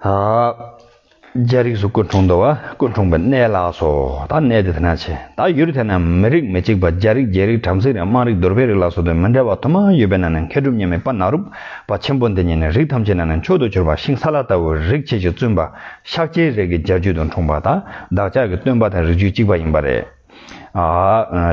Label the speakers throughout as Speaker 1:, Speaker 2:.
Speaker 1: རྒྱ་རིགས་སུ་སྐུ་འཁྲུངས་འདུག་སྐུ་འཁྲུངས་པའི་གནས་ལགས་སོ། ད་གནས་དེ་དེ་ན་ཆེ། ད་ཡུལ་དེ་ན་མི་རིགས་མི་གཅིག་པ་རྒྱ་རིགས་རྒྱའི་རིགས་བྲམ་ཟེའི་རིགས་དམངས་རིགས་དུར་བའི་རིགས་ལ་སོགས་དོན་མི་འདྲ་བ་དུ་མ་ཡོད་པས་ན་ནི་མཁས་གྲུབ་སྙེ་མའི་པ་ན་རུབ་པ་ཆེན་པོ་འདི་ཉིད་ནི་རིགས་ཐམས་ཅད་ན་ནི་མཆོག་ཏུ་གྱུར་པ་ཤིང་སཱ་ལ་ལྟ་བུའི་རིགས་ཆེ་ཞིང་བཙུན་པ་ཤཱཀྱའི་རིགས་ཀྱི་རྒྱལ་རྒྱུད་དུ་འཁྲུངས་པ་དང་བདག་ཅག་གི་སྟོན་པ་དང་རིགས་རྒྱུད་གཅིག་པ་ཡིན་པ་རེད།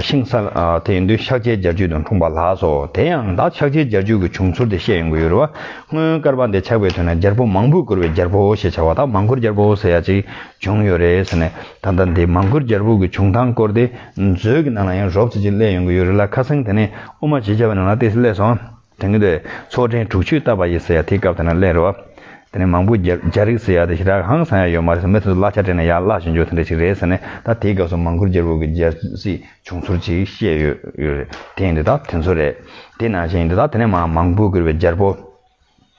Speaker 1: ཤིང་སཱ་ལ་དེ་ཡིན་དུས་ཤཱཀྱའི་རྒྱལ་བརྒྱུད་དང་འཁྲུངས་པ་ལགས་སོ། དེ་ཡང་བདག་ཤཱཀྱའི་རྒྱལ་བརྒྱུད་ཀྱི་བྱུང་ཚུལ་དེ་བཤད་ཡོང་གི་ཡོད་རེད་བ། སྔོན་སྐར་པ་འདི་ཆགས་པའི་དུས་ན་རྒྱལ་པོ་མང་པོས་བཀུར་བའི་རྒྱལ་པོ་ཞེས་བྱ་བ་དང་མང་བཀུར་རྒྱལ་པོ་ཟེར་ཡ་ཅིག་བྱུང་ཡོད་རེད་ཟེར་ནས་ད་ལྟ་འདི་མང་བཀུར་རྒྱལ་པོ་གི་བྱུང་སྟངས་སྐོར་དེ་མཛོད་ཀྱི་ནང་ལ་ཡང་རོབ་ཙེ་ཅིག་གླས་ཡོང་གི་ཡོད་རེད་ལ་ཁ་སང་དེ་ནས་དབུ་མ་ཞེས་བྱ་བའི་ནང་ལ་དེ་གླས་སོང། དེང་དུས་ཚོགས་ཕྲན་དྲུག་ཅུས་བཏབ་པ་ཡིན་ཟེར་ཡ་དེའི་སྐབས་དེ་ན་གླེང་རོགས། དེ་ནས་མང་པོ་རྒྱ་རིགས་ཟེར་ཡ་དེ་ཞི་དྲག་ཧང་སང་ཡ་ཡོད་མ་རེད་ཟེར་མི་དེ་ཚོ་གླ་ཆ་སྤྲད་ནས་ཡར་བརླག་བཞིན་འགྱུར་དེ་འདྲ་ཞིག་རེད་ཟེར་ནས་ད་དེའི་སྐབས་སུ་མང་པོར་རྒྱལ་པོ་གི་རྒྱལ་སྲིད་བྱུང་ཚུལ་ཅིག་བཤད་ཡོད་རེད་དེ་ཡིན་དེ་དག་དེ་ཚོ་རེད་དེ་ནང་བཞིན་ཡིན་དེ་དག་དེ་ནས་མང་པོ་བསྐུར་བའི་རྒྱལ་པོ།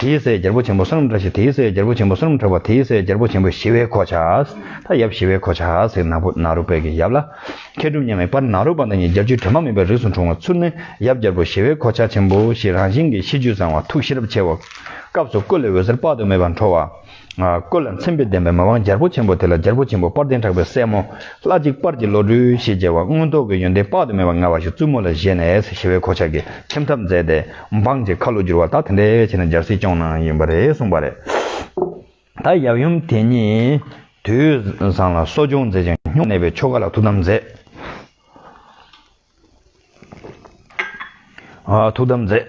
Speaker 1: དེའི་སའི་རྒྱལ་པོ་ཆེན་པོ་བསོད་ནམས་བཀྲ་ཤིས་དེའི་སའི་རྒྱལ་པོ་ཆེན་པོ་བསོད་ནམས་འཕྲོག་པ་དེའི་སའི་རྒྱལ་པོ་ཆེན་པོ་ཞི་བའི་གོ་ཆ། མཐའ་ཡབ་ཞི་བའི་གོ་ཆ་ཟེར་ནག་པོ་ནཱ་རོ་པད་ཀྱི་ཡབ་ལ། མཁས་གྲུབ་མཉམ་མེད་པར་ནཱ་རོ་པ་དང་གཉིས་རྒྱལ་བཅུའི་དྲི་མ་མེད་པའི་རིགས་སུ་འཁྲུངས་བ་ཚུར་ནི་ཡབ་རྒྱལ་པོ་ཞི་བའི་གོ་ཆ་ཆེན་པོ་ཞེས་རང་བཞིན་གྱི་གཤིས་རྒྱུད་བཟང་བ་ཐུགས་ཤེས་རབ་ཆེ་བ། སྐབས་སུ་བཀོད་ལས་འོད་ཟེར་དཔག་ཏུ་མེད་པ་འཕྲོ་བ། བཀོད་ལ་མཚན་དཔེ་ལྡན་པའི་མ་དབང་རྒྱལ་པོ་ཆེན་པོ་དེ་ལ་རྒྱལ་པོ་ཆེན་པོ་དཔལ་ལྡན་གྲགས་པའི་སྲས་མོ། ལྷ་གཅིག་དཔར་གྱི་བློ་གྲོས་ཞེས་བྱ་བ་མངོན་རྟོགས་ཀྱི་ཡོན་ཏན་དཔག་ཏུ་མེད་པ་མངའ་བ་ཞིག་བཙུན་མོ་ལ་བཞེས་ནས་ཞི་བའི་གོ་ཆ་གིས་ཁྱིམ་ཐབ་མཛད་དེ་འབངས་ཀྱི་ཁ་ལོ་བསྒྱུར་བ་དག་དེ་འདྲའི་ཆེད་ན་འཇར་སྲིད་སྐྱོང་ནང་ཡིན་པ་རེད་གསུངས་པ་རེད། ད་ཡབ་ཡུམ་དེ་ཉིད་དུས་བཟང་ལ་གསོ་སྦྱོང་མཛད་ཅིང་སྨྱུང་གནས་པའི་ཆོ་ག་ལ་ཐུགས་དམ་མཛད། ཐུགས་དམ་མཛད།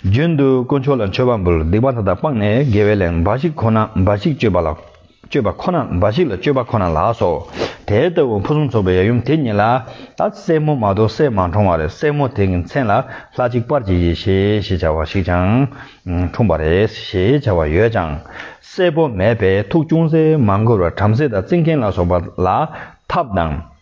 Speaker 1: རྒྱུན་དུ་དཀོན་མཆོག་ལ་མཆོད་པ་འབུལ་སྡིག་པ་མཐའ་དག་སྤངས་ནས་དགེ་བའི་ལས་འབའ་ཞིག་ཁོ་ན་འབའ་ཞིག་སྤྱོད་པ་ལ་སྤྱོད་པ་ཁོ་ན་འབའ་ཞིག་ལ་སྤྱོད་པ་ཁོ་ན་ལགས་སོ། དེ་ལྟ་བུ་ཕུན་སུམ་ཚོགས་པའི་ཡབ་ཡུམ་དེ་ཉིད་ལ་ད་སྲས་མོ་མ་གཏོགས་སྲས་མ་འཁྲུངས་བར་སྲས་མོ་དེ་ཀྱི་མཚན་ལ་ལྷ་གཅིག་པར་གྱིས་ཡེ་ཤེས་ཞེས་བྱ་བ་ཞིག་ཀྱང་འཁྲུངས་པ་རེད་ཞེས་བྱ་བ་ཡོད་ཀྱང་སྲས་པོ་མེད་པས་ཐུགས་ཅུང་ཟད་མ་འཁོར་བར་བྲམ་ཟེ་དང་རྩིས་མཁན་ལ་སོགས་པ་ལ་ཐབས་དང།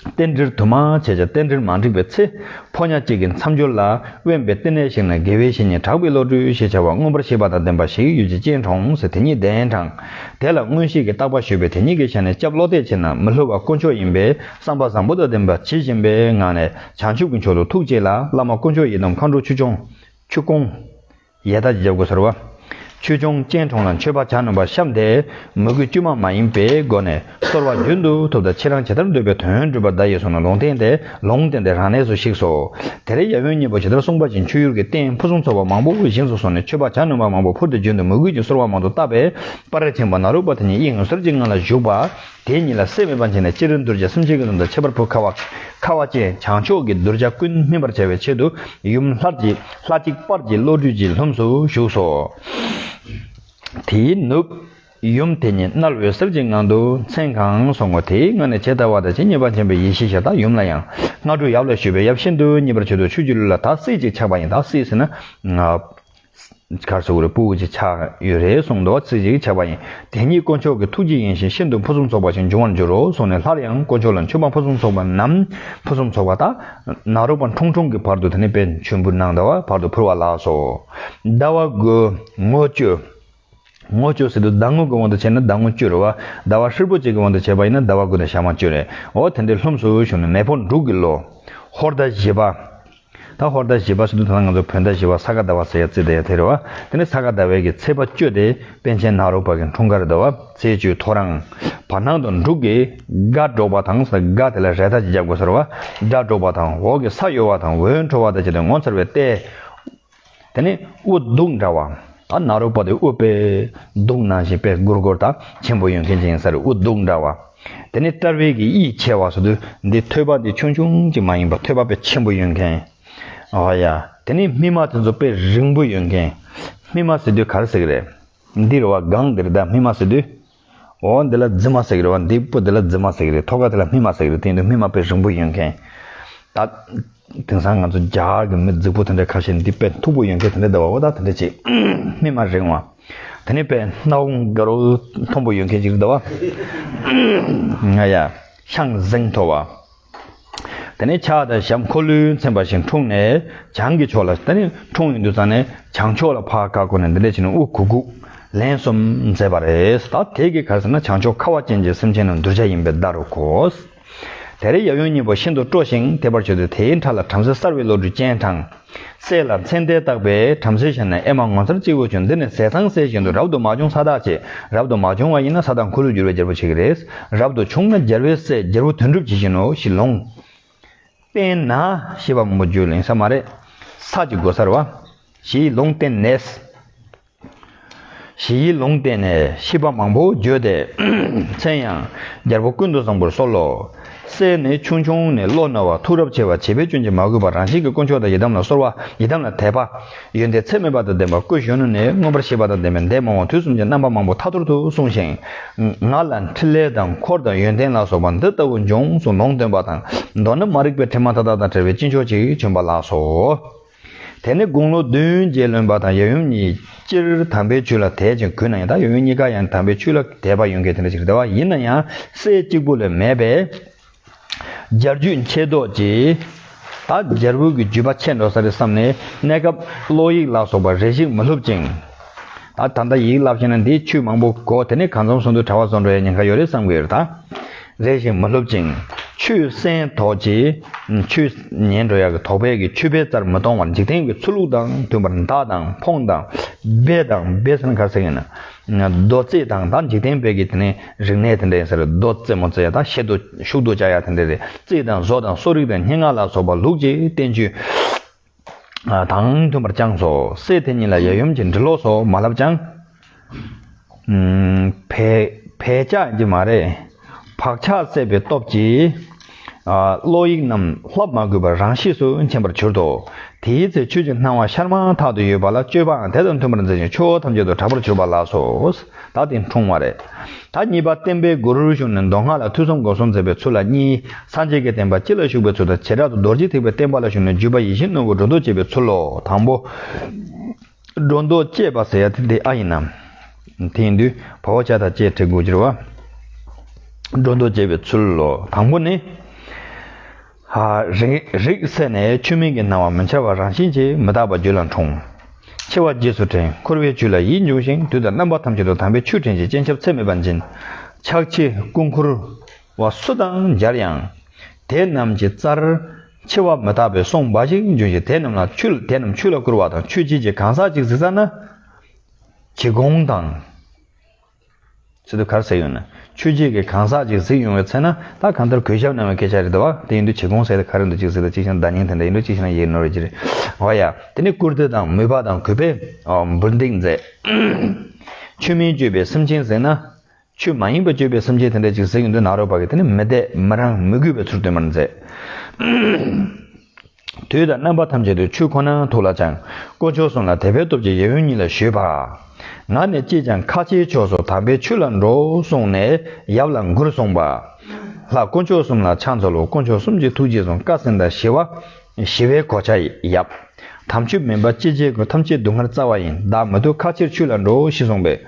Speaker 1: རྟེན་འབྲེལ་དུ་མ་བྱས་ཀྱང་རྟེན་འབྲེལ་མ་འགྲིག་པའི་ཚེ། ཕོ་ཉག་གཅིག་གི་མཚམས་སྦྱོར་ལ་དབེན་པའི་བསྟི་གནས་ཤིག་ན་དགེ་བའི་བཤེས་གཉེན་གྲགས་པའི་བློ་གྲོས་ཞེས་བྱ་བ་མངོན་པར་ཤེས་པ་དང་ལྡན་པ་ཞིག་ཡོད་ཅེས་སྤྱན་དྲོངས་སོ་དེ་ཉིད་གདན་དྲངས། དེ་ལ་མངོན་ཤེས་ཀྱི་རྟག་པ་ཞུས་པས་དེ་ཉིད་ཀྱི་ཞལ་ནས་སྐྱབས་བློ་གཏད་བྱས་ན་མི་སླུ་བ་དཀོན་མཆོག་ཡིན་པས་བསམ་པ་བཟང་པོ་དང་ལྡན་པ་ཇི་བཞིན་པའི་ངང་ནས་བྱང་ཆུབ་ཀྱི་མཆོག་ཏུ་ཐུགས་བསྐྱེད་ལ་བླ་མ་དཀོན་མཆོག་ཡི་དམ་མཁའ་འགྲོ་ཆུ་སྐྱོང། ཡས་དག་བརྗེ་དགོས་ཟེར་བ། ཆོས་འབྱུང་སྤྱན་དྲོངས་ལ་མཆོད་པ་བྱ་ནོམ་པ་ཤམ་དེས་མོས་གུས་དཀྱུས་མ་མ་ཡིན་པའི་སྒོ་ནས་གཏོར་བ་རྒྱུན་དུ་ཐུབ་ད་ཁྱེད་རང་ཇི་ལྟར་འདོད་པའི་དོན་སྒྲུབ་པར་གདའ་ཡས་སོང་ན་ལུང་བསྟན་དེ་ལུང་བསྟན་དེ་རང་གནས་སུ་ཞིག་སོ། དེ་རེས་ཡབ་ཡུམ་གཉིས་པོ་ཇི་ལྟར་གསུངས་པ་བཞིན་མཆོད་ཡུལ་གྱི་རྟེན་ཕུན་སུམ་ཚོགས་པ་མང་པོ་དབུལ་ཞིང་སུ་སོང་ནས་མཆོད་པ་བྱ་ནོམ་པ་མང་པོ་ཕུལ་ཏེ་རྒྱུན་དུ་མོས་གུས་ཀྱི་གསོལ་བ་མང་དུ་བཏབ་པས་དཔའ་རིས་ཆེན་པོ་ནཱ་རོ་པ་དེ་ཉིད་ཡིད་ངོ་གསོལ་གྱི་ངང་ལ་བཞུགས་པ། དེ་ཉིད་ལ་སེམས་མི་སྤང་བྱས་ནས་སྤྱིར་གདུལ་བྱ་སུམ་ཆའི་ཀུན་རྫོབ་དང་ཁྱད་པར་བུ་ཁ་བ། ཁ་བ་ཅན་བྱང་ཕྱོགས་ཀྱི་གདུལ་བྱ་ཀུན་སྨིན་པར་བྱ་བའི་ཆེད་དུ་ཡུམ་ལྷ་གཅིག་པར་གྱི་བློ་གྲོས་ཀྱིས་ལྷུམས་སུ་ཞུགས་སོ། དེའི་ནུབ། ཡུམ་དེ་ཉིད་རྣལ་འོད་གསལ་གྱི་ངང་དུ་མཚན་གང་སོང་ངོ་དེའི་སྔ་ནས་ཇི་ལྟ་བ་དང་ཇི་སྙེད་པ་མཁྱེན་པའི་ཡེ་ཤེས་ཞལ་དང་ཡུམ་ལ་ཡང། སྔ་དྲོ་ཡབ་ལ་ཞུས་པས་ཡབ་ཤིན་ཏུ་མཉེས་པར་བྱོས་ཏོ་ཆོས་ཀྱི་ལུས་ལ་དག་སྲིད་ཅིག་ཆགས་པ་ཡིན་དག་སྲིད་ཟེར་ན། གར་སོགས་རིལ་བུ་འོད་ཀྱི་ཆ་ཡོད་རེ་གསུངས་མདོ་བ་ཚིག་གཅིག་བྱ་བ་ཡིན། དེ་ཉིད་དཀོན་མཆོག་གི་ཐུགས་རྗེ་ཡིན་ཞིང་ཤིན་ཏུ་ཕུན་སུམ་ཚོགས་པ་ཞིག་འབྱུང་བར་འགྱུར་རོ་གསུངས་ནས་སླར་ཡང་དཀོན་མཆོག་ལ་མཆོད་པ་ཕུན་སུམ་ཚོགས་པ་རྣམས་ཕུན་སུམ་ཚོགས་པ་དག། ནཱ་རོ་པ་ཁྲུང་ཁྲུང་གི་བར་དུ་དེ་ནས་པད་འབྱུང་བུ་ནག་ཟླ་བ་བར་དུ་འཕུར་བ་ལགས་སོ། ཟླ་བ་དགུ། མངོན་སྤྱོད། ངོ་བཅོས་སྲིད་དུ་ཟླ་ངོ་གི་དབང་དུ་བྱས་ན་ཟླ་ངོ་བཅོས་རོལ་བ། ཟླ་བ་ཧྲིལ་པོ་གཅིག་གི་དབང་དུ་བྱས་པ་ཡིན་ན་ཟླ་བ་དགུ་ནས་ཞག་མ་བཅོས་རེ་འོ་དེ་འདྲའི་ལྷུམས་སུ་ཞུགས་ནས་མེ་ཕོ་འབྲུག་གི་ལོ། ཧོར་ཟླ་བཞི་པ། ད་ཧོར་ཟླ་བཞི་པ་སྲིད་དུ་ད་ང་ཚོ་བོད་ཟླ་བཞི་བ་ས་ག་ཟླ་བ་ཟེར་ཡ་ཙི་ད་ཡ་དེ་རེད་བ། དེ་ནས་ས་ག་ཟླ་བའི་གི་ཚེས་པ་བཅོས་ཏེ་པན་ཆེན་ནག་རོག་བར་གི་འཁྲུངས་སྐར་ཟླ་བ་ཚེས་བཅུའི་ཐོ་རངས། བར་སྣང་དུ་འབྲུག་གི་སྒ་སྒྲོག་པ་དང་ས་ག་དེ་ལ་རས་ཐ་ཅི་བརྒྱབ་དགོས་ཟེར་བ། སྒྲ་སྒྲོག་པ་དང་འོག་གི་ས་གཡོ་བ་དང་འོད་འཕྲོ་བ་དང་བཅས་ཏེ་ངོ་མཚར་བའི་ལྟས། དེ་ནས་དབུ་གདུགས་འདྲ་བ། ད་ནཱ་རོ་པ་དེ་དབུ་དཔལ་གདུགས་ནང་བཞིན་དཔལ་གུར་གོར་དང་ཆེན་པོ་ཡོན་གྱི་འགྱིང་སར་དབུ་གདུགས་འདྲ་བ། དེ་ནས་སྐྲ་བལ་གྱི་དབྱིག་ཆེ་བ་སོ་དུ་འདི་ཐོད་པ་འདི་ཆུང་ཆུང་ཅིག་མ་ཡིན་པར་ཐོད་པ་དཔལ་ཆེན་པོ་ཡོན་གྱི་འོ་ཡ། དེ་ནས་སྨིན་མ་དེ་ཚོ་དཔལ་རིང་པོ་ཡོན་གྱི་སྨིན་མ་ཟེར་དུས་གར་ཟེར་གི་རེད། འདིར་བ་གང་འདིར་བདག་སྨིན་མ་ཟེར་དུས། འོ་འདི་ལ་རྫི་མ་ཟེགས་རེད་བ་འདི་པོ་འདི་ལ་རྫི་མ་ཟེགས་རེད་ཐོ་ག་དེ་ལ་སྨི་མ་ཟེགས་རེད་དེ་འདུག་སྨི་མ་དཔེ་རིང་པོ་ཡོད་མཁན་ད། དེང་སང་ང་ཚོ་རྒྱ་གར་གྱི་མི་རྫིག་པོ་དེ་འདྲ་ཁ་ཤས་འདི་དཔེ་མཐུག་པོ་ཡོད་མཁན་དེ་འདྲ་འདུག་བ་འོ་ད་དེ་འདྲ་ཅིག་སྨི་མ་རིང་བ། དེ་ནས་དཔེ་སྣ་བོ་འགའ་རོ་མཐོན་པོ་ཡོད་མཁན་ཅིག་རེད་འདུག་བ། ང་ཡ། ཤང་གཟེངས་མཐོ་བ། དེ་ནས་ཕྱག་དང་ཞབས་འཁོར་ལོས་མཚན་པ་ཞིང་འཁྲུངས་ནས་བྱང་གི་ཕྱོགས་ལ་དེ་ནས་འཁྲུངས་ཡུན་དུ་བརྩམས་ནས་བྱང་ཕྱོགས་ལ་བྷ་ག་བསྐོར་ནས་འདི་ལྟར་བྱིན་ནོ་དབུ་གུག་གུག། ལན་གསུམ་མཛད་པ་རེད་ད་དེ་གི་གར་ཟེར་ན་བྱང་ཕྱོགས་ཁ་བ་ཅན་གྱི་སེམས་ཅན་རྣམས་གདུལ་བྱ་ཡིན་པའི་བརྡ་རུ་གོ། དེར་ཡབ་ཡུམ་གཉིས་པོ་ཤིན་ཏུ་སྤྲོ་ཞིང་དད་པར་བྱོས་ཏེ་དེའི་འཕྲ་ལ་བྲམ་ཟེ་གསར་བའི་བློ་གྲོས་སྤྱན་དྲངས། སྲས་ལ་མཚན་ལྟས་བཏགས་པས་བྲམ་ཟེ་ཞལ་ནས་ཨེ་མ་ངོ་མཚར་ཅི་འོས་བྱུང་འདི་ནི་ཟས་གཙང་སྲས་བཞིན་དུ་རབ་ཏུ་མ་བྱུང་ས་དག་ཅེས་རབ་ཏུ་མ་བྱུང་བ་ཡིན་ན་ས་དག་འཁོར་ལོས་སྒྱུར་བའི་རྒྱལ་པོ་བྱེད་ཀྱི་རེད། རབ་ཏུ་བྱུང་ན་རྒྱལ་བའི་སྲས་རྒྱལ་པོ་དོན་གྲུབ་ཇི་བཞིན་ནོ་ཞེས་ལུང། བསྟན་ན། ཞེས་པ་མོ་རྒྱུད་གླེང་ས་མ་རེད། ས་ཅི་དགོས་སར་བ། ཞེས་ལུང་བསྟན་ནས། ཞེས་ཡིད་ལུང་བསྟན་ནས་ཤིས་པ་མང་པོ་བརྗོད་དེ། མཚན་ཡང་རྒྱལ་པོ་ཀུན་ཏུ་བཟང་པོར་གསོལ་ལོ། སྲས་ནི་ཆུང་ཆུང་ནས་བློ་རྣོ་བ་ཐུགས་རབ་ཆེ་བ་བྱིས་པའི་སྐྱོན་གྱིས་མ་གོས་པར་རང་བཞིན་གྱི་དཀོན་མཆོག་དང་ཡི་དམ་ལ་གསོལ་བ་ཡི་དམ་ལ་དད་པ། ཡོན་ཏན་ཚད་མེད་པ་དང་ལྡན་པ་སྐུ་གཞོན་ནུ་ནས་མངོན་པར་ཤེས་པ་དང་ལྡན་པའི་འདས་མ་འོངས་དུས་གསུམ་གྱི་རྣམ་པ་མང་པོ་ཐ་ཐོར་དུ་གསུངས་ཤིང། ང་ལ་འཕྲིན་ལས་དང་འཁོར་དང་ཡོན་ཏན་ལ་སོགས་པ་འདི་ལྟ་བུ་འབྱུང་གསུང་ལུང་སྟོན་པ་དང་མདོར་ན་མ་རིག་པའི་དྲི་མ་མཐའ་དག་དང་བྲལ་བའི་སྤྱི་མཆོག་ཅིག་བྱོན་པ་ལགས་སོ། དེ་ནས་དགུང་ལོ་བདུན་བརྒྱད་ལོན་པ་དང་ཡབ་ཡུམ་གཉིས་སྤྱིར་དམ་པའི་ཆོས་ལ་དད་ཅིང་གུས་ན་ཡང་ད་ཡབ་ཡུམ་གཉིས་ཀ་ཡང་དམ་པའི་ཆོས་ལ་དད་པ་ཡོད་འགལ་དེ་འདྲ་ཞིག་རེད་བ་ཡིན་ན་ཡང་སྲས་གཅིག་པུ་ལས་མེད་པས། སྦྱར་རྒྱུད་མཁས་རྡོ་རྗེས། ད་སྦྱར་བུ་གི་རྒྱུད་པ་ཆད་འགྲོ་ས་རེད་བསམ་ནས་གནས་སྐབས་ཀློག་ཡིག་ལ་སོགས་པ་རེ་ཞིག་མ་ལྷུབ་ཅིང། ད་ད་ད་ཡིག་ལབ་ཤེས་ན་འདིའི་ཆུ་མང་པོ་གོ་དེ་ནས་གང་འཛོམས་ཟུང་དུ་གྲྭ་བ་བཟོ་འགྲོ་ཡ་ཉེན་ཁ་ཡོད་རེད་བསམ་གི་ཡོད་རེད་རེ་ཞིག་མ་ལྷུབ་ཅིང་ཆུ་སྲན་དོག་ཅེས་ཆུ་ཉེན་འགྲོ་ཡ་གི་དོག་པས་ཀྱི་ཆུ་བེ་རྩར་མི་གཏོང་བར་འཇིག་རྟེན་གྱི་ཆུ་ལུག་དང་མཐུན་པར་མདའ་དང་འཕོང་དང་སྦེ་དང་སྦེ་སེན་ག་ཟེར་གི་ན་རྡོ་རྩེ་དང་ད་འཇིག་རྟེན་བེ་གི་དེ་ནས་རིག་གནས་དེ་འདྲ་ཡིན་ཟེར་རྡོ་རྩེ་མོ་རྩེ་ད་ཤེད་དུ་ཤུག་དུ་བཅའ་ཡ་དེ་འདྲ་རེད་རྩེ་དང་བཟོ་དང་གསོ་རིག་དང་སྙན་ངག་ལ་སོགས་པ་ལུགས་ཀྱི་བསྟན་བཅོས། དང་མཐུན་པར་བཅངས་སོ། སྲས་དེ་ཉིད་ལ་ཡབ་ཡུམ་གྱི་འབྲི་ཀློག་སོགས་མ་བསླབས་ཀྱང། བས་ཆགས་ཀྱི་མ་རེད། བག་ཆགས་སད་པའི་སྟོབས་ཀྱིས། ཀློག་ཡིག་རྣམས་བསླབ་མ་དགོས་པར་རང་གཤིས་སུ་མཁྱེན་པར་གྱུར་ཏོ། དེའི་ཚེ་ཆོས་ཀྱི་སྣང་བ་ཤར་མ་ཐག་ཏུ་ཡོད་པ་ལ་སྤྱོད་པའང་དེ་དང་མཐུན་པར་མཛད་ཅིང་ཆོས་འཁོར་ཐམས་ཅད་དུ་གྲགས་པར་གྱུར་པ་ལགས་སོ། ད་དེ་འཁྲུངས་བ་རེད། ད་གཉིས་པ་བསྟན་པའི་སྒོ་རུ་བྱུང་ནས་མདོ་སྔགས་ལ་ཐུགས་བསམ་སྒོམ་གསུམ་མཛད་པའི་ཚུལ་ལ་གཉིས། སངས་རྒྱས་ཀྱི་བསྟན་པ་སྤྱི་ལ་ཞུགས་པའི་ཚུལ་དང་བྱེ་བྲག་ཏུ་རྡོ་རྗེ་ཐེག་པའི་བསྟན་པ་ལ་ཞུགས་ནས་བརྒྱུད་པ་ཡིད་བཞིན་ནོར་བུ་སྒྲོ་འདོགས་བཅད་པའི་ཚུལ་ལོ། དང་པོ། སྒྲོ་འདོགས་བཅད་པ་ཟེར་ཡ་དེ་འདི་ཨ་ཡིན་ནམ། དེང་དུས་བར་བ་ཅག་དང་བཅས་བྲིས་འགོ་བསྒྱུར་བ། སྒྲོ་འདོགས་བཅད་པའི་ཚུལ་ལོ། དང་པོ་ནི། རིགས་བསྲེས་ནས་ཆུ་མིག་གི་སྣང་བ་མི་འཆར་བར་རང་བཞིན་གྱིས་མི་རྟག་པ་རྒྱུད་ལ་འཁྲུངས། འཆི་བ་རྗེས་སུ་དྲན་འཁོར་བའི་བཅུད་ལ་ཡིད་འབྱུང་ཞིང་རྡུལ་དང་རྣམ་པ་ཐམས་ཅད་དུ་དམ་པའི་ཆོས་སྤྲིན་གྱི་སྤྱན་ཆབ་ཚད་མེད་པ་འབྱིན། ཆགས་འཆི་སྐུ་འཁོར་བ་སུ་དང་སྦྱར་ཡང། དེ་རྣམས་ཀྱི་རྩར། འཆི་བ་མི་རྟག་པའི་སོང་འབའ་ཞིག་འབྱུང་ཞིང་དེ་རྣམས་ལ་ཆུ་དེ་རྣམས་ཆུ་ལ་བསྐུར་བ་དང་ཆུ་དཔྱིད་ཀྱི་གང་ཟག་ཅིག་གཟིགས་ས་ན། གྱི་གོང་དང། ཚུལ་དུ་གར་ཟེར་ཡོད་ན། ཆོས་བརྒྱད་ཀྱི་གང་ཟག་ཅིག་གཟིགས་ཡོང་བའི་ཚེ་ན། ད་གང་ལྟར་གུས་ཞབས་གནང་བའི་སྐད་ཆ་རེད་འདུག་བ། དེ་ཡིན་དུས་ཇི་གོང་གསལ་ལྟར་ག་རེ་འདུག་ཅིག་གཟིགས་དང་ཅིག་ཤངས་བརྡ་རྙིང་དེ་འདྲ་ཡིན་དུས་ཅིག་ཤངས་ཡིག་ནོར་བའི་རྒྱུ་རེད། འོ་ཡ། དེ་ནས་བཀུར་སྟི་དང་མོས་པ་དང་གུས་པས་འབུར་འདེགས་མཛད། ཆོས་མིན་སྤྱོད་པའི་སེམས་ཅན་གཟིགས་ན། ཆོས་མ་ཡིན་པ་སྤྱོད་པའི་སེམས་ཅན་དེ་འདྲ་ཅིག་གཟིགས་ཡོང་དུས་ནག་རོག་པ་གིས་དེ་ནི་མི་དད་མི་རངས་མི་གུས་པའི་ཚུལ་སྟོན་པར་མཛད། དུས་དང་རྣམ་པ་ཐམས་ཅད་དུ་ཆུ་ཁོ་ན་ཐུགས་ལ་བཅངས། དཀོན་མཆོག་གསུམ་ལ་དད་པའི་སྟོབས་ཀྱིས་ཡེ་དབོན་ཉིད་ལ་ཞུས་པ། ང་ནི་ཅིས་ཀྱང་ཁ་ཆེའི་ཕྱོགས་སུ་དམ་པའི་ཆོས་ལ་འགྲོ་གསུངས་ནས་ཡབ་ལ་མགུར་གསུངས་པ། ལྷ་དཀོན་མཆོག་གསུམ་ལ་ཕྱག་འཚལ་ལོ་དཀོན་མཆོག་གསུམ་གྱི་ཐུགས་རྗེས་བཟུང་བཀའ་སྲིང་དང་ཞི་བ། ཞི་བའི་གོ་ཆ་ཡབ། དམ་ཆོས་མིན་པ་ཅི་བྱས་ཀུན་ཐམས་ཅད་སྡུག་བསྔལ་རྩ་བ་ཡིན་བདག་མི་སྡུག་ཁ་ཆེར་ཆོས་ལ་འགྲོ་ཞེས་གསུངས་པས།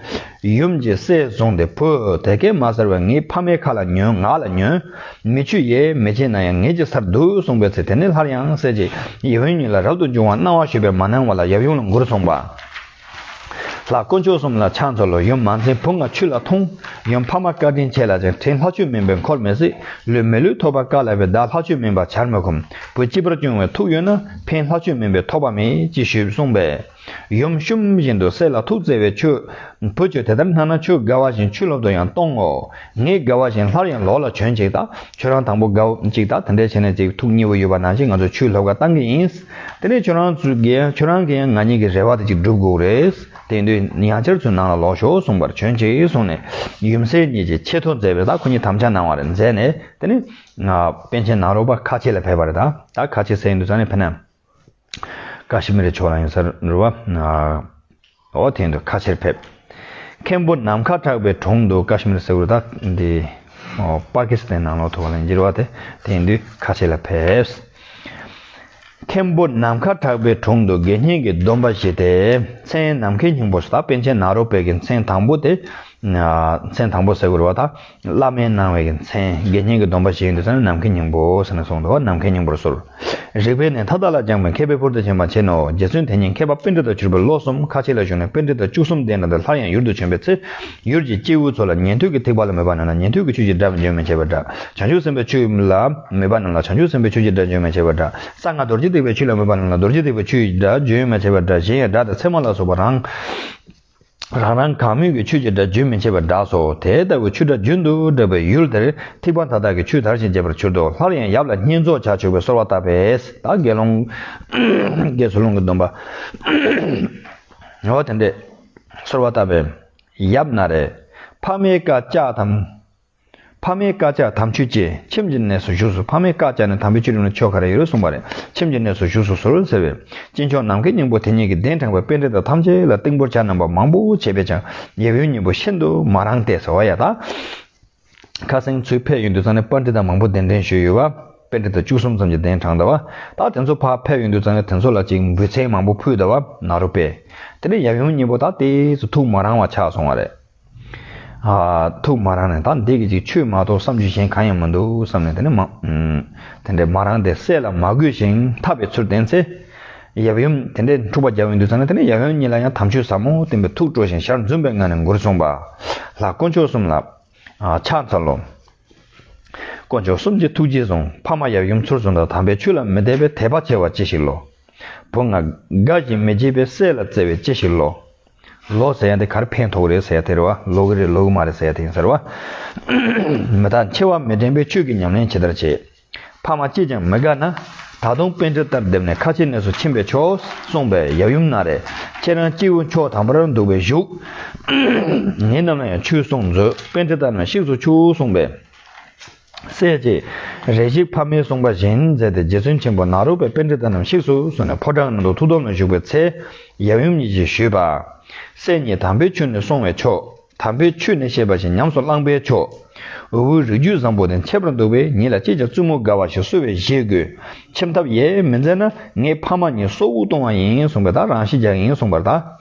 Speaker 1: ཡུམ་གྱི་སྲས་བཟུང་སྟེ་བུ་དེ་ཀས་མ་ཟེར་བས་ངའི་ཕ་མའི་ཁ་ལ་ཉོན་ངག་ལ་ཉོན། མི་ཆུ་ཡེ་མི་བྱེད་ན་ཡང་ངེད་ཀྱི་སར་འདུག་གསུངས་པའི་ཚེ་དེ་ནས་སླར་ཡང་སྲས་ཀྱི་ཡིད་བོན་ཉིད་ལ་རབ་ཏུ་འབྱུང་བར་གནང་བ་ཞུས་པས་མ་གནང་བ་ལ་ཡབ་ཡུམ་ལ་མགུར་གསུངས་པ། ལྷ་དཀོན་མཆོག་གསུམ་ལ་ཕྱག་འཚལ་ལོ་ཡུམ་མ་འཛིན་བུ་ང་ཆུ་ལ་འཐུང། ཡུམ་ཕ་མ་བཀའ་དྲིན་ཆེ་ལ་ཅིང་དྲིན་ལྷ་ཆོས་མིན་པས་འཁོར་མི་སྲིད། ལུས་མེད་ལུས་ཐོབ་པར་དཀའ་ལ་བས་བདག་ལྷ་ཆོས་མིན་པར་བྱར་མི་ཁོམ། བུ་སྐྱིད་པར་སྐྱོང་བའི་ཐུགས་ཡོད་ན་ཕན་ལྷ་ཆོས་མིན་པས་ཐོགས་པ་མེད་ཅེས་ཞུས་གསུངས་པས། ཡུམ་གཤོམ་བཞིན་དུ་སྲེད་ལ་ཐུགས་བརྩེ་བས་མཆོད། བུ་ཁྱོད་དེ་ལྟར་སྣང་ན་ཆོས་དགའ་བ་བཞིན་ཆུ་ལོག་ཏུ་ཡང་གཏོང་ངོ། ངའི་དགའ་བ་བཞིན་སླར་ཡང་ལོག་ལ་བྱོན་ཅིག་དང་ཁྱོད་རང་དང་པོ་དགའ་བོ་ཅིག་དང་དེ་འདྲས་བྱས་ནས་ཅིག་ཐུགས་མཉེས་པོ་ཡོད་པ་ནང་བཞིན་ང་ཚོ་ཆུའི་ལྷོ་ཁར་གཏང་གི་ཡིན། དེ་ནས་ཁྱོད་རང་ཚོས་ཀྱི་ཁྱོད་རང་གིས་ཡང་ང་གཉིས་ཀྱི་རེ་བ་དེ་ཅིག་འགྲུབ་དགོས་རེད། དེ་དུས་ཡང་བསྐྱར་ཚུར་ནང་ལ་ལོག་ཞོག་གསུངས་པར་བྱོན་ཅིག་གསུངས་ནས་ཡུམ་སྲས་གཉིས་ཀྱིས་ཆེ་མཐོང་མཛད་པས་ད་ཁོ་གཉིས་དམ་བཅའ་གནང་བ་རེད་མཛད་ནས་དེ་ནས། པན་ཆེན་ནག་རོག་པ་ཁ་ཆེ་ལ་ཕེབས་པ་རེད་ད་ཁ་ཆེ་སྲས་གཉིས་འདུག་ས་ནས་ཕེབས་ན། ཀ་ཤི་མི་རི་ཕྱོགས་ལ་ཡིན་སར་འགྲོ་བ། འོ་དེང་དུ་ཁ་ཆེར་ཕེབས། མཁན་པོ་ནམ་མཁའ་གྲགས་པའི་དྲུང་དུ་ཀ་ཤི་མི་རི་ཟེར་བ་དག་འདི། པ་ཀི་སི་ཐན་ནང་ལོགས་ཐུ་བ་ལན་འགྱེར་བ་དེ་དེང་དུས་ཁ་ཆེ་ལ་ཕེབས། མཁན་པོ་ནམ་མཁའ་གྲགས་པའི་དྲུང་དུ་དགེ་བསྙེན་གྱི་སྡོམ་པ་བཞེས་ཏེ་མཚན་ནམ་མཁའི་སྙིང་པོ་སོ་དག་པན་ཆེན་ནཱ་རོ་པད་ཀྱི་མཚན་དང་པོ་དེ། མཚན་དང་པོ་ཟེར་དགོས་པ་དང་བླ་མའི་གནང་བའི་མཚན་དགེ་བསྙེན་གྱི་སྡོམ་པ་བྱེད་ཡུལ་དུ་ས་ནི་ནམ་མཁའི་སྙིང་པོ་ཟེར་ནས་གསུངས་འདུག་ནམ་མཁའི་སྙིང་པོར་གསོལ། རིག་པའི་གནས་མཐའ་དག་ལ་སྦྱངས་པའི་མཁས་པའི་ཕུར་དུ་བྱིན་པ་བྱིན་ནོ། རྗེ་བཙུན་དེ་ཉིད་མཁས་པ་དཔེ་འགྲེལ་དུ་གྱུར་པའི་ལོ་གསུམ་ཁ་ཕྱེས་ལ་བཞུགས་ནས་དཔེ་འགྲེལ་དང་བཅུ་གསུམ་ལྡན་ནོ་དེ་ལྷར་ཡང་ཡུལ་དུ་བྱོན་པའི་ཚེ། ཡུལ་གྱི་སྐྱེས་བུ་ཚོ་ལ་ཉན་ཐོས་ཀྱི་ཐེག་པ་ལ་མོས་པ་རྣམས་ལ་ཉན་ཐོས་ཀྱི་ཆོས་ཀྱི་སྒྲ་བརྗོད་མི་བྱེད་པར་སྒྲ། བྱང་ཆུབ་སེམས་དཔའི་ཆོས་ལ་མོས་པ་རྣམས་ལ་བྱང་ཆུབ་སེམས་དཔའི་ཆོས་ཀྱི་སྒྲ་བརྗོད་མི་བྱེད་པར་སྒྲ། གསང་སྔགས་རྡོ་རྗེ་ཐེག་པའི་ཆོས་ལ་མོས་པ་རྣམས་ལ་རྡོ་རྗེ་ཐེག་པའི་ཆོས་ཀྱི་སྒྲ་བརྗོད་མི་བྱེད་པར་སྒྲ་གཞན་ཡང་སྒྲ་དང་ཚད་མ་ལ་སོགས་པ་རང། རང་རང་གང་མོས་ཀྱི་ཆོས་ཀྱི་སྒྲ་རྒྱུན་མི་འཆད་པར་བསྒྲགས་སོ། དེ་ལྟ་བུའི་ཆུ་སྒྲ་རྒྱུན་དུ་བསྒྲགས་པའི་ཡུལ་དེར་ཐིགས་པ་མཐའ་དག་གི་ཆུས་དར་ཞིང་རྒྱས་པར་གྱུར་ཏོ། སླར་ཡང་ཡབ་ལ་བསྙེན་རྫོགས་བྱ་ཆོག་པའི་གསོལ་བ་བཏབ་པས་བདག་དགེ་སློང། བགེགས་ཚུར་སློང་གི་སྡོམ་པ། འོ་དེ་འདྲས། གསོལ་བ་བཏབ་པས། ཡབ་ན་རེ། ཕ་མའི་བཀའ་བཅག་དམ། ཕ་མའི་བཀའ་བཅག་དམ་ཆོས་བཅས་ཁྱིམ་གྱི་གནས་སུ་བཞུགས་སོ་ཕ་མའི་བཀའ་བཅག་ནས་དམ་པའི་ཆོས་རིམ་ལ་ཆོ་ག་རེ་ཡོད་གསུངས་པ་ལས་ཁྱིམ་གྱི་གནས་སུ་བཞུགས་སོ་ཟུར་ཟེར་བས་སྐྱེས་མཆོག་ནམ་མཁའི་སྙིང་པོ་དེ་ཉིད་ཀྱི་གདན་དྲངས་པའི་དཔེ་འགྲེལ་དག་ཐམས་ཅད་ལ་རྟིང་པོར་བྱ་རྣམ་པ་མང་པོ་བྱས་པས་ཀྱང་ཉེ་བའི་སྙིང་པོ་ཤིན་ཏུ་མ་རངས་ཏེ་ཟེར་བ་ཡང་དག་ཁ་གསེང་ཚུལ་ཕལ་ཡུལ་འདུལ་ཚང་ནས་དཔར་འགྲེལ་དག་མང་པོ་གདན་འདྲེན་ཞུས་ཡོད་པ་དཔེ་འགྲེལ་དག་བཅུ་གསུམ་ཙམ་གྱི་གདན་དྲངས་གདའ་བ་དག་དེ་ཚོ་ཕ་ཕལ་ཡུལ་འདུལ་ཚང་ནས་དེ་ཚོ་ལ་ཅིག་འབུལ་ཚན་མང་པོ་ཕུལ་གདའ་བ་ནཱ་རོ་པས་དེ་འདྲའི་ཡབ་ཡུམ་གཉིས་པོ་དག་དེ་ཚོ་ཐུགས་མ་རངས་བ་ཆགས་སོང་བ་རེད། ཐུགས་མ་རངས་ནས་ད་འདི་སྐད་ཅིག་ཆོས་མ་གཏོགས་བསམ་བྱུང་གཞན་གང་ཡང་མི་འདུག་བསམ་ནས་དེ་ནས་དེ་འདྲའི་མ་རངས་ཏེ་སྲས་ལ་མ་གུས་ཤིང་འཐབ་པའི་ཚུལ་བསྟན་ཚེ། ཡབ་ཡུམ་དེ་འདྲའི་འཁྲུག་པ་རྒྱལ་བོའི་འདུལ་ཚང་ནས་དེ་ནས་ཡབ་ཡུམ་གཉིས་ལ་ཡང་དམ་ཆོས་ཟབ་མོ་བསྟན་པས་ཐུགས་སྤྲོ་ཞིང་ཞར་འཛུམ་པའི་ངང་ནས་མགུར་གསུངས་པ། ལྷ་དཀོན་མཆོག་གསུམ་ལ། ཕྱག་འཚལ་ལོ། དཀོན་མཆོག་གསུམ་གྱི་ཐུགས་རྗེས་བཟུང་ཕ་མ་ཡབ་ཡུམ་ཚུར་བཟུང་དང་དམ་པའི་ཆོས་ལ་མི་དད་པའི་དད་པ་ཆེ་བ་ཅི་ཞིག་ལོ། བུ་ང་དགའ་ཞིང་མི་བརྗེད་པའི་སྲས་ལ་བརྩེ་བས་ཅི་ཞིག་ལོ། ལོག་ཟེར་ཡང་དེ་གར་ཕན་ཐོགས་རེད་ཟེར་དེར་བ་ལོག་གི་རེད་ལོག་གི་མ་རེད་ཟེར་དེ་ཡིན་ཟེར་བ། མི་དག་མཆེ་བ་མི་དྲན་པའི་ཆོས་ཀྱི་ཉམས་ལེན་ཇི་ལྟར་བྱེད། ཕ་མ་ཅིས་ཀྱང་མི་དགའ་ན། ད་དུང་དཔེ་འདི་ལྟར་བསྡེབས་ནས་ཁ་ཆེའི་གནས་སུ་ཕྱིན་པས་ཆོག་གསུངས་པས་ཡབ་ཡུམ་ན་རེ། ཁྱེད་རང་སྐྱེས་བུ་མཆོག་དམ་པར་འདུག་པས་བཞུགས། ངེད་རྣམས་ལ་ཡང་ཆོས་གསུངས་མཛོད་དཔེ་འདི་ལྟར་ན་གཤེགས་སུ་ཆུག་གསུངས་པས། སྲས་ཀྱིས་རེ་ཞིག་ཕ་མའི་གསུངས་པ་བཞིན་མཛད་དེ་རྗེ་བཙུན་ཆེན་པོ་ནཱ་རོ་པའི་དཔེ་འདི་ལྟ་ནམ་ཞིག་སུ་སུ་ནས་ཕོ་བྲང་ནང་དུ་ཐུགས་དམ་ལ་བཞུགས་པའི་ཚེ། ཡབ་ཡུམ་གཉིས་ཀྱིས་ཞུས་པ། སྲས་ཉིད་དམ་པའི་ཆོས་ནི་སྲུང་བའི་མཆོག། དམ་པའི་ཆོས་ནི་ཤེས་པ་བཞིན་ཉམས་སུ་བླངས་པའི་མཆོག། འུ་བུའི་རིགས་རྒྱུད་བཟང་པོ་དེ་འཆད་པར་འདུག་པས་ཉིད་ལ་ཅིས་ཀྱང་བཙུན་མོ་དགའ་བ་ཞིག་གསོལ་བའི་གཞེས་དགོས། ཁྱིམ་ཐབས་ཡས་མི་མཛད་ན་ངའི་ཕ་མ་གཉིས་སྲོག་དབུགས་གཏོང་བ་ཡིན་གསུངས་པས་ད་རང་ཤི་རྒྱག་ཡིན་གསུངས་པར་ད།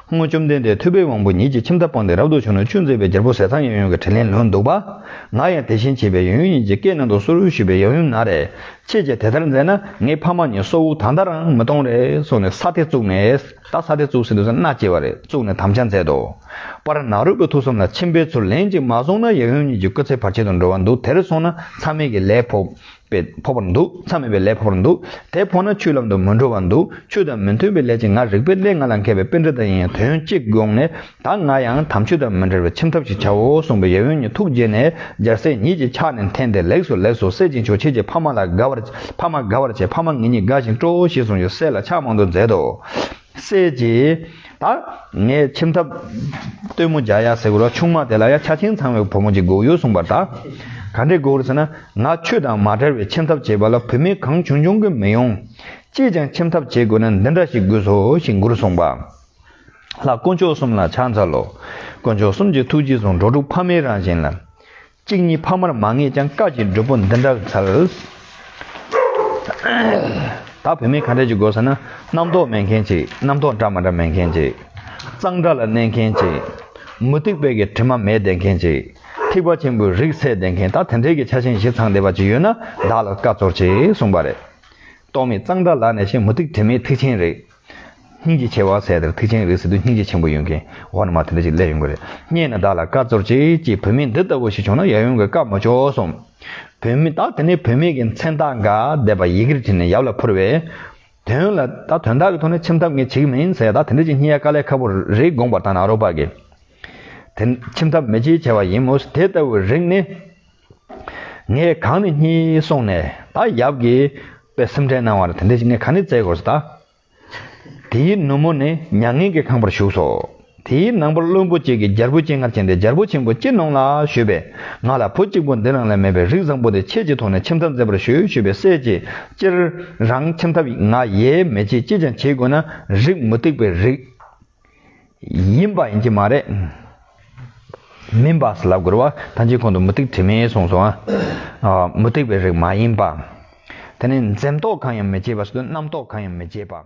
Speaker 1: སྔོན་བཅོམ་ལྡན་འདས་ཐུབ་པའི་དབང་པོ་ཉིད་ཀྱིས་ཁྱིམ་ཐབ་སྤངས་ཏེ་རབ་ཏུ་བྱུང་ནས་ཆུ་འཛེག་པའི་རྒྱལ་པོ་ཟས་གཙང་ཡང་ཡང་གི་དྲིན་ལན་ལོན་འདུག་པ། ང་ཡང་དེ་བཞིན་བྱས་པས་ཡང་ཡང་ཉིད་ཀྱི་བཀའི་ནང་དུ་སོར་བཞུགས་པའི་ཡང་ཡང་ན་རེ། ཁྱེད་ཀྱིས་དེ་ལྟར་མཛད་ན་ངའི་ཕ་མ་གཉིས་སྲོག་དབུགས་ད་ལྟ་རང་མི་གཏོང་རེ་གསུངས་ནས་ས་དེ་བཙུགས་ནས། ད་ས་དེ་བཙུགས་ཟིན་འདུག་ཟེར་ན་མནའ་སྐྱེལ་བ་རེ་བཙུགས་ནས་དམ་བཅའ་མཛད་དོ། པར་ནག་རུས་པའི་ཐུགས་བསམ་ལ་ཁྱིམ་པའི་ཚུར་ལན་ཅིག་མ་སོང་ན་ཡང་ཡང་ཉིད་ཀྱི་སྐུ་ཚེ་བར་ཆད་དུ་འགྲོ་བ་འདུག་དེར་སོང་ན་ཚང་མེད་ཀྱི་ལས་ཕོག། པས་འཕོ་བར་འདུག་མཚམས་མེད་པའི་ལས་འཕོ་བར་འདུག་དེ་འཕོ་ན་ཆུའི་ལམ་དུ་མི་འགྲོ་བར་འདུག་ཆུ་དང་མི་མཐུན་པའི་ལས་ཅི་ང་རིག་པའི་གླེང་ང་ལ་མཁས་པའི་དཔེ་འདི་དག་ཡིན་ཡང་དོན་གཅིག་དགོངས་ནས་ད་ང་ཡང་དམ་ཆོས་དང་མི་འབྲལ་བའི་ཁྱིམ་ཐབས་ཤིག་བྱའོ་གསུངས་པས་ཡབ་ཡུམ་གཉིས་ཐུགས་དགྱེས་ནས་སྦྱར་སྲེག་ཉིད་ཀྱིས་ཕྱག་ནས་འཐེན་ཏེ་ལེགས་སོ་ལེགས་སོ་སྲེག་ཅིང་ཆོག་ཁྱེད་ཀྱིས་ཕ་མ་ལ་དགའ་བར་ཕ་མ་དགའ་བར་བྱས་ཕ་མ་ངེད་གཉིས་དགའ་ཞིང་སྤྲོའོ་ཞེས་གསུངས་ཡོད་སྲེག་ལ་ཕྱག་མང་དུ་མཛད་དོ། སྲས་ཀྱིས། ད་ངས་ཁྱིམ་ཐབ་སྟོན་མོ་བརྒྱག་ཡ་ཟེར་གོ་ར་ཆུང་མ་དེ་ལ་ཡ་ཆ་ཆེན་ཚང་བའི་བུ་མོ་གཅིག་དགོས་ཡོད་གསུངས་པར་ད་ག་འདྲས་དགོས་ཟེར་ན་ང་ཁྱོད་དང་མ་བྲལ་བའི་ཁྱིམ་ཐབ་བྱེད་པ་ལ་བུད་མེད་གང་བྱུང་འབྱུང་གི་མི་ཡོང། ཅིས་ཀྱང་ཁྱིམ་ཐབ་བྱེད་དགོས་ན་འདི་འདྲ་ཞིག་དགོས་སོ་ཞེས་མགུར་གསུངས་པ། ལྷ་དཀོན་མཆོག་གསུམ་ལ་ཕྱག་འཚལ་ལོ། དཀོན་མཆོག་གསུམ་གྱི་ཐུགས་རྗེས་བཟུང་འགྲོ་དྲུག་ཕ་མའི་རང་བཞིན་ལ། གཅིག་གཉིས་ཕ་མར་མ་ངེས་ཀྱང་བཀའ་བརྒྱད་འགྲུབ་པོ་འདི་འདྲ་བའི་ཚལ། ད་བུད་མེད་ཁ་འབྲལ་གྱི་དགོས་ས་ན། རྣམ་རྟོག་མེད་མཁན་གཅིག་རྣམ་རྟོག་འདྲ་མ་འདྲ་མེད་མཁན་གཅིག། གཙང་སྦྲ་ལ་གནས་མཁན་གཅིག། མུ་སྟེགས་དཔལ་གྱི་དྲི་མ་མེད་བསྡད་མཁན་གཅིག། ཐེག་པ་ཆེན་པོའི་རིགས་སད་བསྡད་མཁན་ད་དེ་འདྲས་ཀྱི་ཆ་ཆེན་བཞི་ཚང་བསྡད་པ་ཅིག་ཡོད་ན་བདག་ལ་བཀའ་སྩོལ་ཅེས་གསུངས་པ་རེད། རྟོག་མེད་གཙང་སྦྲ་ལགས་ནས་བཤད་མུ་སྟེགས་དྲི་མེད་ཐེག་ཆེན་རིགས། སྙིང་རྗེ་ཆེ་བ་ཟས་དེར་ཐུག་ཆེན་རིགས་སུ་དུ་སྙིང་རྗེ་ཆེན་པོ་ཡོང་གིན་འོག་ན་མ་དེ་འདྲ་ཞིག་སླེབས་ཡོང་གི་རེད་རྙེད་ན་བདག་ལ་བཀའ་སྩོལ་ཅིག་ཅེས་བུད་མེད་འདི་ལྟ་བུ་ཞིག་བྱུང་ན་ཡབ་ཡུམ་གྱི་བཀའ་མ་ཆོག་གསུངས། བུད་མེད་དག་དེ་ནས་བུད་མེད་ཀྱི་མཚན་རྟགས་འགའ་བསྡེབས་པ་ཡི་གེར་བྲིས་ནས་ཡབ་ལ་ཕུལ་བས། དོན་ལ་ད་དོན་དག་གི་ཐོག་ནས་ཁྱིམ་ཐབ་ངས་བྱེད་ཀྱི་མིན་ཟས་དག་དེ་འདྲ་ཞིག་རྙེད་ཡ་དཀའ་ལས་ཁ་པོ་རེད་དགོངས་པར་བཏང་ན་རོགས་པ་གྱིས། དེ་ཁྱིམ་ཐབ་མི་བྱེད་བྱས་པ་ཡིན་མོད་དེ་ལྟ་བུའི་རིགས་ནི། ངས་གང་ནས་གཉིད་སོང་ནས་ད་ཡབ་ཀྱི་པའི་སེམས་ཁྲལ་གནང་བ་ལ་དེ་འདྲའི་ཞིག་ངས་གང་ནས་བཙལ་དགོས་ཟེར། དེའི་ནུབ་མོ་ནས་མྱ་ངན་གྱི་ཁང་པར་ཞུགས་སོ། དེའི་ནང་པར་བློན་པོ་གཅིག་གིས་རྒྱལ་པོའི་སྤྱན་སྔར་ཕྱིན་ཏེ་རྒྱལ་པོ་ཆེན་པོ་ཅི་གནང་ལགས་ཞུས་པས་ང་ལ་བུ་གཅིག་པོ་འདི་རང་ལས་མེད་པས་རིགས་བཟང་པོ་དེ་ཁྱེད་ཀྱི་ཐོག་ནས་ཁྱིམ་ཐབ་མཛད་པར་ཞུ་ཞུས་པས་སྲས་ཀྱིས་སྤྱིར་རང་ཁྱིམ་ཐབ་ཡིན་ང་ཡས་མས་ཀྱིས་ཅི་ཀྱང་བྱེད་དགོས་ན་རིགས་མུ་སྟེགས་པའི་རིགས། ཡིན་པ་ཡིན་གྱི་མ་རེད། མིན་པ་ལ་རྒོལ་བ་ཐམས་ཅད་ཁོང་དུ་མུ་སྟེགས་དྲི་མེད་གསུངས་སོ། མུ་སྟེགས་པའི་རིགས་མ་ཡིན་པ། དེ་ནས་འཛེམ་དོགས་གང་ཡང་མི་བྱེད་པ་སོ་སྟེ་རྣམ་རྟོག་གང་ཡང་མི་བྱེད་པ།